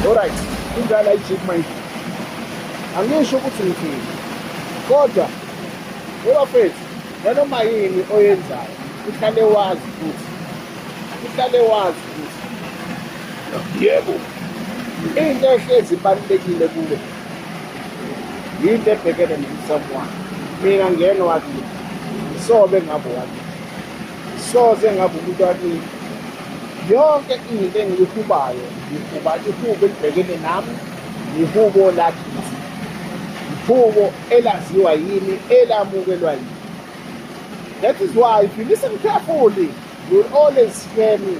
Alright, indala ijiki manje. Angisho ukuthi ngithini. Kodwa webafethu nanoma yini oyenzayo uhlale wazi ukuthi uhlale wazi ukuthi yebo into ehlezi ibalulekile kuwe yinto ebhekene nomsamo wakho mina ngeno wakini sobe ngabo wakini Soze ngabe umuntu wakini yonke into engiyihubayo ngihuba ihubo elibhekene nami yihubo lakithi yihubo elaziwa yimi elamukelwa yimi that is why if you listen carefully you will always hear me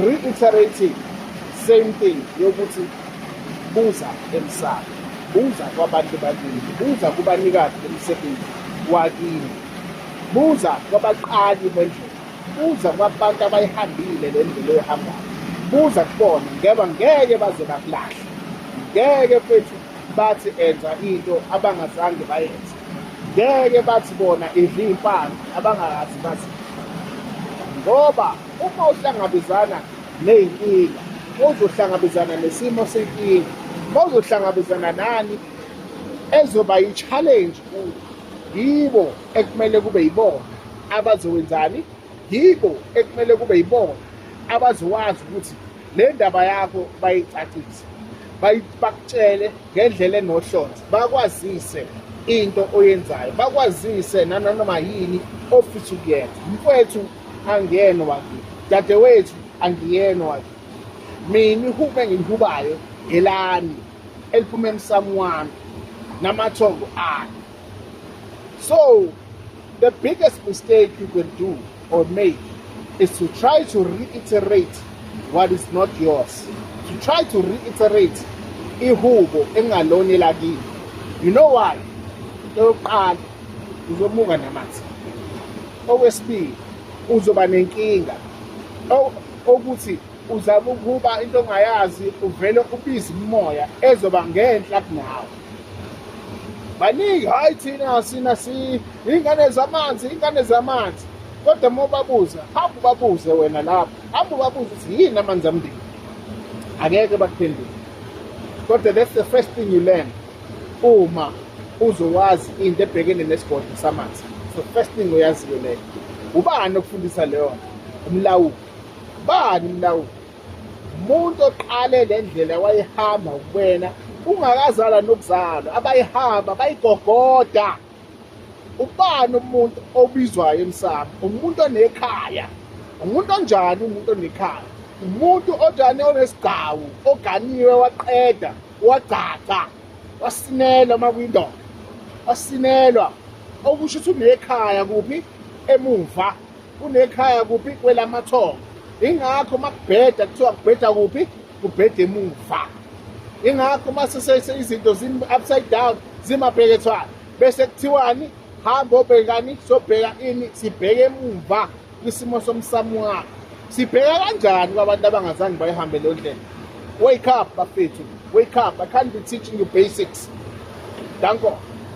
reiterating same thing yokuthi buza emsamo buza kwabantu bakini buza kubanikazi bemisebenzi wakini Buza kwabaqali bendlela, buza kwabantu abayihambile le ndlela oyihambayo, buza kubona ngeba ngeke baze bakulahle, ngeke mfethu bathi enza into abangazange bayenze, ngeke bathi bona idla iy'mpande abangakazi bazi ngoba uma uhlangabezana ney'nkinga uzohlangabezana nesimo senkinga, uma uzohlangabezana nani ezoba yi-challenge kuyo. yibo ekumele kube yibona abazowenzani yibo ekumele kube yibona abazowazi ukuthi le ndaba yakho bayicacise bakutshele ngendlela enohlonze bakwazise into oyenzayo bakwazise nananoma yini ofisa ukuyenza mfowethu angiyena wakini dadewethu angiyena wakini mina ihubo engiyihubayo ngelami eliphuma emsamu wami namathongo akhe so the biggest mistake you can do or make is to try to reiterate what is not yours to try to reiterate ihubo engalona elakini you know why into yokuqala uzomuka namanzi okwesibili uzoba nenkinga okuthi uzama ukuba into ongayazi uvele ubize umoya ezoba ngenhla kunawe baningi hayi thina sina si ingane zamanzi ingane zamanzi kodwa uma ubabuza hamba ubabuze wena lapho hamba ubabuze ukuthi yini amanzi amndeni angeke bakuphendule kodwa that's the first thing you learn uma uzowazi into ebhekene nesigodlo samanzi so first thing uyaziyo leyo ubani okufundisa leyo umlawuli bani mlawuli umuntu oqale le ndlela wayihamba kuwena ungakazala nokuzalwa abayihamba bayigogoda ubani umuntu obizwayo emsamo umuntu onekhaya umuntu onjani umuntu onekhaya umuntu ojane onesigcawu oganiwe waqeda wagcagca wasinelwa uma kuyindoda wasinelwa okusho ukuthi unekhaya kuphi emuva kunekhaya kuphi kwelamathongo ingakho uma kubheda kuthiwa kubheda kuphi kubheda emuva ingakho uma sesese izinto zim-upside down zimabhekethwana bese kuthiwani hamba obhekani sobheka ini sibheke emuva kwisimo somsamo wakho sibheka kanjani kwabantu abangazange bayihambe leyo ndlela wake up bafethu wake up i can't be teaching you basics danko